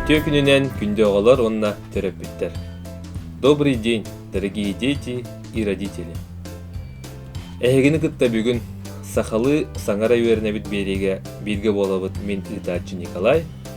Үтүө күнүнэн күндү оҕолор уонна төрөппүттэр. Добрый день, дорогие дети и родители. Эһигини кытта бүгүн сахалыы саҥара үөрэнэбит биэриигэ бииргэ буолабыт мин ыытааччы Николай,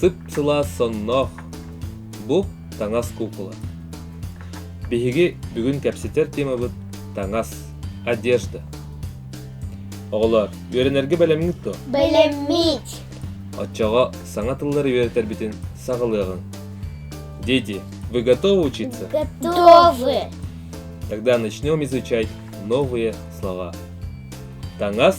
Сып-сылаас сонноох бу таҥас куукула. Биһиги бүгүн кэпсэтэр темабыт таҥас, одежда. Оҕолоор, үөрэнэргэ бэлэмҥит дуо? Бэлэммит. Оччоҕо саҥа тыллары үөрэтэрбитин саҕалыаҕыҥ. Дети, вы готовы учиться? Готовы. Тогда начнем изучать новые слова. Таҥас